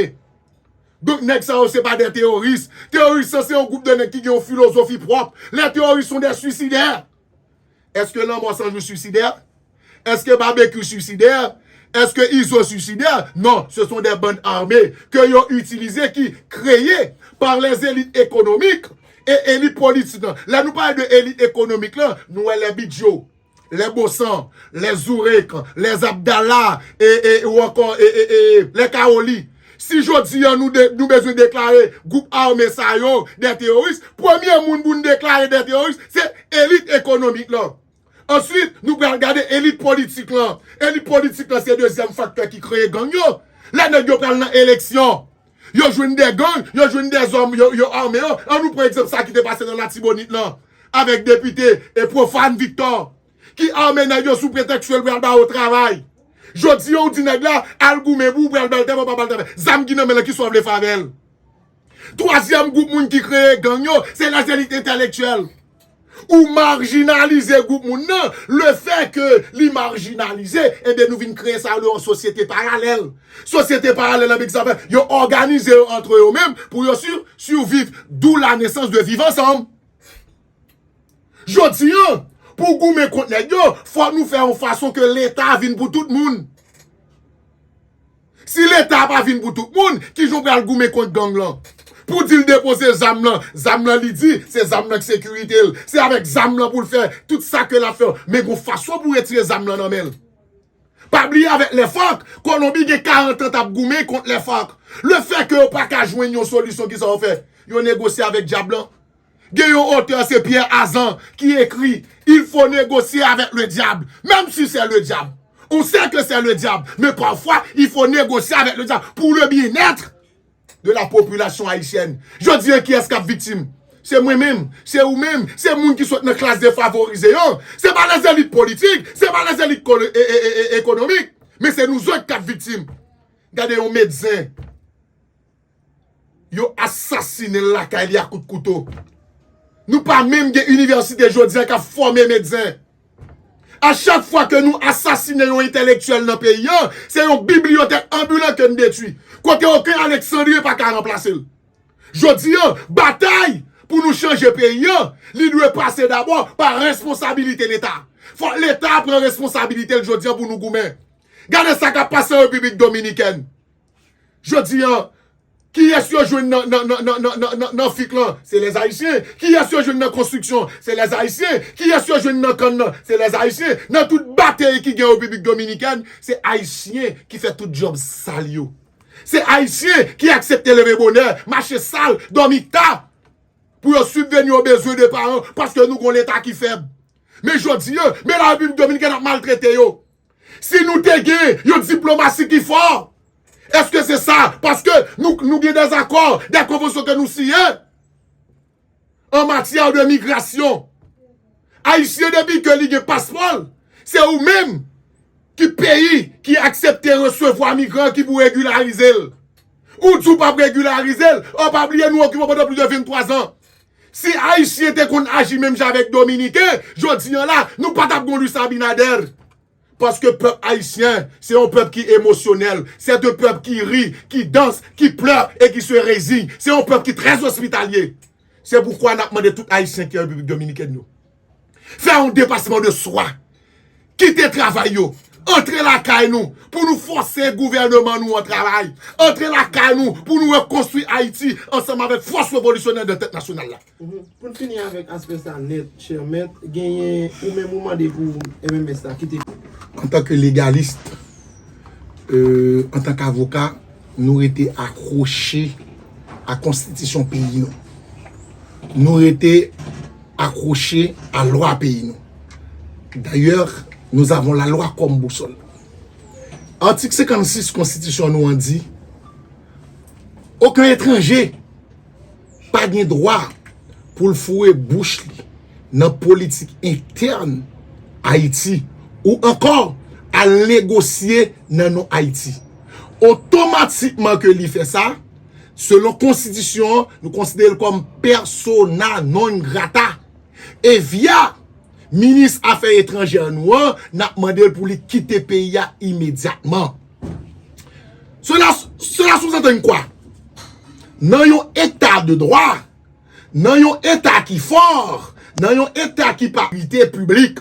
Dante. Donk nèg sa yo se pa de teyoris. Teyoris yo se yon gwoup de nèg ki gen yon filozofi pwòp. Les terroristes sont des suicidaires. Eske Lanmò 100 jou suisidè? Eske Babekyou suisidè? Eske Izo suisidè? Non, se son de band arme ke yo itilize ki kreye par les élites économiques e elit politik lan. Lè nou pale de elit ekonomik lan, nou wè lè bidyo lè Bosan, lè Zourek, lè Zabdala e ou ankò e e e lè Kawoli. Si jodi an nou bezwen deklare gwoup ame sa yo dè teyoris, premye moun pou n deklare dè teyoris se elit ekonomik lan. Answit nou pral gade elit politik lan. Elit politik lan se dezyèm faktè ki kreye gang yo. Lè nèg yo pral nan eleksyon. Yo jwenn de gang, yo jwenn de zòm yo ame yo. An nou pran egzanp sa ki te pase nan Latibonit lan avèk depite Prophane Victor ki ame nèg yo sou pretèks ke l pral ba yo travay. Jodi an ou di nèg la al goumen pou ou pral ba l travay ou pa ba l travay. Zam ki nan men l lan ki sa w vle fè avè l? Twazyèm gwoup moun ki kreye gang yo se lè se lit entelektyèl. Ou marjinalize gwoup moun nan, le fè ke li marjinalize, enben nou vin kreye sa yo rele yon sosyete paralèl. Sosyete paralèl anbe ki sa fè, yo òganize yo antre yo menm pou yo surviv. D'où la naissance de Viv Ansanm. Jodi an, pou goumen kont nèg yo, fòk nou fè yon fason ke leta vin pou tout moun. Si leta a pa vin pou tout moun, kijan w pral goumen kont gang lan? Pou di l depoze zam lan, zam lan li di, se zam lan k sekirite l. Se avèk zam lan pou l fè tout sa ke l ap fè yo. Men gon fason pou retire zam lan nan men l. Pa bliye avèk lè FARC, Kolonbi gen 40 an t ap goumen kont lè FARC. Le fè ke yo pa ka jwenn yon solisyon kisa yo fè? Yo negosye avèk dyab lan. Gen yon otè se Pierre Azan ki ekri Il faut négocier avec le diable, même si c'est le diable. On sait que c'est le diable, mais parfois il faut négocier avec le diable pour le bien-être de la population haïtienne. Jodi an kiyès kap viktim? Se mwen menm, se ou menm, se moun ki sot nan klas defavorize yo, se pa lèzelit politik, se pa lèzelit ekonomik, men se nou zòt kap viktim. Gade yon medsen. Yo asasine l lakay li a kout kouto. Nou pa menm gen inivèsite jodi a k ap fòme medsen. A chak fwa ke nou asasine yon entèlektyèl nan peyi an, se yon bibliyotèk anbilan ke n detwi. Kote oken Alexandrien pa ka ranplase l. Jodi a, batay pou nou chanje peyi an, li dwe pase dabò pa responsabilite Leta. Fòk Leta pran responsabilite l jodi a pou nou goumen. Gade sa k ap pase an Repiblik Dominikèn. Jodi an, kiyès yo jwenn nan fik lan? Se lèzayisyen. Kiyès yo jwenn nan konstriksyon? Se lèzayisyen. Kiyès yo jwenn nan kann lan? Se lèzayisyen. Nan tout batey ki gen an Repiblik Dominikèn, se ayisyen ki fè tout dyòb sal yo. Se ayisyen ki aksepte leve bonè, mache sal, dòmi ta, pou yo sibveni o bezwen de paran, paske nou gon leta ki fèb. Men jodi an, men la Repiblik Dominikèn ap maltrete yo. Si nou te gen yon diplomasi ki fò, eske se sa, paske nou gen des akò, des konvansyon ke nou siye, an matyè de migrasyon. Ayisyen depi ke li gen paspò l, se ou menm ki peyi ki aksepte resevwa migran ki pou regularize l. Ou di ou pap regularize l, an pa bliye nou okipe w pandan plis de 23 zan. Si ayisyen te konn aji menm jan avèk dominiken jodi an la nou pa tap gon Luis Abinader paske pèp ayisyen se yon pèp ki emosyonèl c'est un pèp ki ri ki danse ki pleure et qui se rezigne se yon pèp ki très hospitalier se poukwa nap mande tout ayisyen ki an repiblik dominikèn yo Fè yon depasman de swa. Kite travay yo. Antre lakay nou pou nou fòse gouvèneman nou an travay. Antre lakay nou pou nou rekonstwi Ayiti ansanm avèk fòs revolisyonè de tèt nasyonal la. Pou n fini avèk aspè sa nèt, chè mèt, genyen ou menm ou mande pou MMS la kite. Antanke legalist, antanke avoka, nou rete akwoche a konstitisyon peyi nou. Nou rete. akwoche a lwa peyi nou. Dayè, nous avons la loi comme boussole. Atik 56 konstitisyon nou an di, Oken etranje pa gen dwa pou l foure bouch li nan politik entèn Ayiti ou ankò al negosye nan non Ayiti. Otomatikman ke li fè sa, Selon konstitisyon an, nou konsidere l kòm persona non grata. E via minis afè etranjè nou an, n ap mande l pou li kite peyi a imedyatman. Sela souzantann kwa? Nan yon eta de dwa, nan yon eta ki fò, nan yon eta ki pa pite piblik,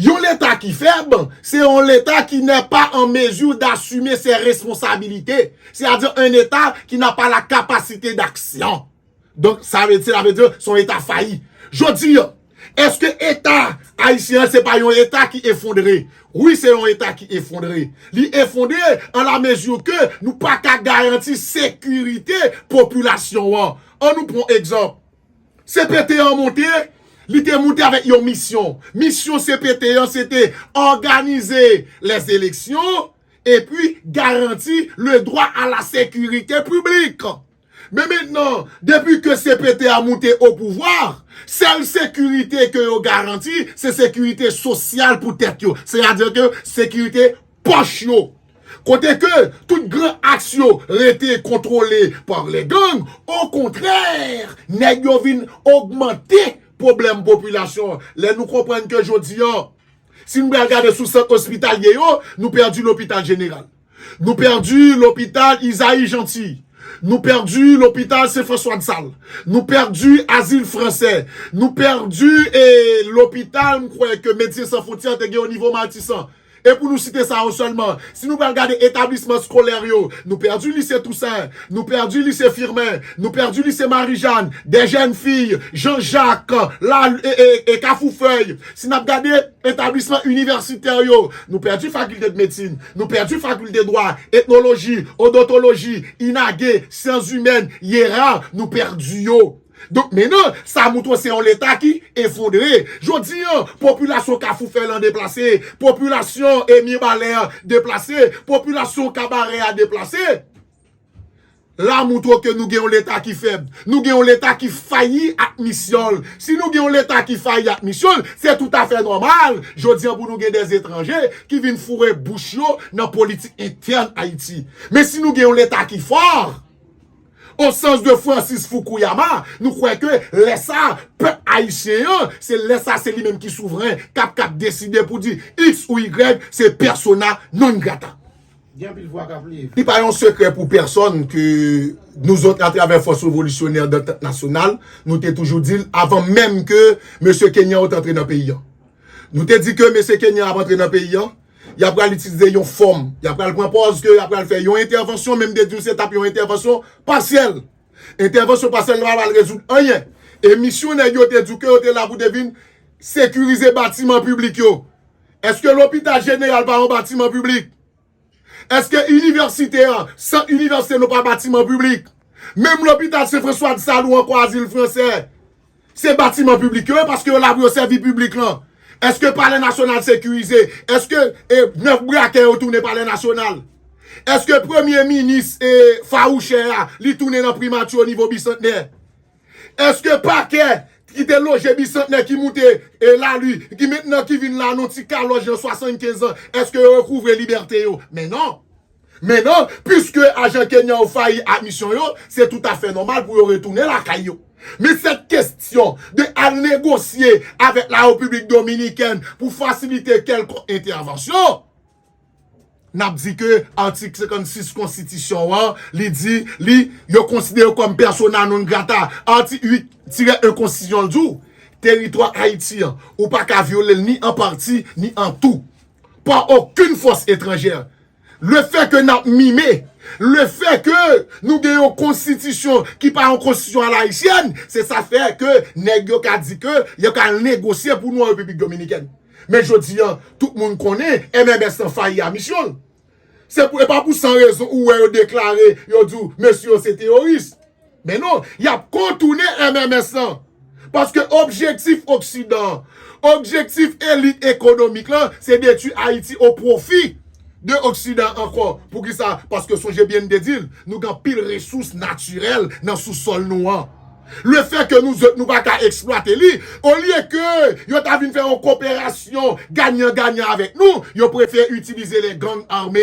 Yon leta ki fèb, se yon leta ki nè pa an mezi dasime se responsabilite, se a di an leta ki na pa la kapasite daksyon. Donk, sa vle di, sa vle di, se yon leta fayi. Jodi an, eske leta ayisyen an se pa yon leta ki efondre? Wi, se yon leta ki efondre. Li efondre an la mezi ke nou pa ka garanti sekirite popilasyon an. An nou pran egzanp. CPT an monte, li te monte avèk yon misyon. Misyon CPT an se te òganize les eleksyon epi garanti le dwa a la sekirite piblik. Men mentnan, depi ke CPT a monte o pouvwa, sèl sekirite ke yo garanti, se sekirite sosyal pou tèt yo. Se a di ke sekirite pòch yo. Kote ke tout gran aks yo rete kontwole pa lè gang, okontrè nèg yo vin ogmante pwoblèm popilasyon an. Lè nou konprann ke jodi an, si nou pral gade sou sant ospitalye yo, nou pèdi lopital jeneral, nou pèdi lopital Isaïe Jeanty, nou pèdi lopital Sen Franswa Dsal, nou pèdi Azil Fransè, nou pèdi lopital m kwè ke Medsen San Fwontyè te gen onivo Matisan. E pou nou site sa yo sèlman, si nou pral gade etablisman skolè yo, nou pèdi Lise Tousen, nou pèdi Lise Firmen, nou pèdi Lise Marijàn, Dèjènfiy, Jan Jak, La e Kafoufèy. Si n ap gade etablisman inivèsitè yo, nou pèdi Fakilte de Medsin, nou pèdi Fakilte Dwa, Etnoloji, Odontoloji, Inage, Syanzimèn, Yera, nou pèdi yo. Donk men nan, sa moutre se yon leta ki efondre. Jodi an, popilasyon Kafou Fèlan deplase, popilasyon e Mibalè deplase, popilasyon Kabarè a deplase. La moutre ke nou gen yon leta ki fèb. Nou gen yon leta ki fayi ak misyon l. Si nou gen yon leta ki fayi ak misyon l, se tout afè nòmal jodi an pou nou gen de etranje ki vin foure bouch yo nan politik entèn Ayiti. Men si nou gen yon leta ki fò, O sans de Francis Fukuyama, nou kwè ke lè sa a, pèp ayisyen an, se lè sa a se li menm ki souvren, k ap kab deside pou di x ou y se persona non grata. Gen anpil vwa k ap leve. Li pa yon sekrè pou pèsòn ke nou zòt atravè Fòs Revolisyonè Dantant Nasyonal, nou te toujou di l avan menm ke mesye Kenyan yo te antre nan peyi an. Nou te di ke mesye Kenyan ap antre nan peyi an, Y a pral itilize yon fòm, y a pral pran pòz ke y a pral fè yon entèvansyon men m te di w se t ap yon entèvansyon pasyèl. Entèvansyon pasyèl la pa pral rezoud anyen. E misyon nèg yo te di w ke yo te la pou te vin sekirize batiman piblik yo. Eske lopital jeneral pa yon batiman piblik? Eske inivèsite an, sant inivèsite nou pa batiman piblik? Menm lopital Sen Franswa Dsalou ankò azil fransè. Se batiman piblik yo ye paske yo la pou yo sèvi piblik lan. Eske palè nasyonal sekirize? Eske 9 brakè yo tounen palè nasyonal? Eske premye minis fawouchè a li tounen nan primati o nivo bisantnè? Eske pakè ki te loje bisantnè ki moute e la li ki mentnan ki vin la nan ti kalòj nan 75 an eske yo rekouvre libète yo? Men non! Men non, piske ajan kenyan yo fayi ak misyon yo, se toutafè nòmal pou yo retounen lakay yo. Men sèt kestyon de al negosye avèk la Repiblik Dominikèn pou fasilite kèlkonk entèvansyon, n ap di ke atik 56 konstitisyon an, li di, li, yo konsidere yo kòm persona non grata. Atik 8 tirè 1 konstitisyon an di w, Teritwa Ayiti an, ou pa ka vyole l ni an pati, ni an tou, pa okenn fòs etranjè, Le fè ke n ap mime, le fè ke nou gen yon konstitisyon ki pa yon konstitisyon alayisyèn, se sa fè ke nèg yo ka di ke yo ka al negosye pou nou an Repiblik Dominikèn. Men jodi an, tout moun konnen MMS lan fayi a misyon l. Se pou, e pa pou san rezon ou wè yo deklare, yo di w mesye yo se teyoris. Men non, y ap kontounen MMS lan. Paske objektif oksidan an, objektif elit ekonomik lan, se detwi Ayiti o pwofi de oksidan an ankò. Poukisa? Paske sonje byen m te di l, nou gen anpil resous natirèl nan sousòl nou an. Le fè ke nou zòt nou pa ka eksplwate li, olye ke yo ta vin fè yon koperasyon ganyan ganyan avèk nou, yo prefere itilize les gangs armes.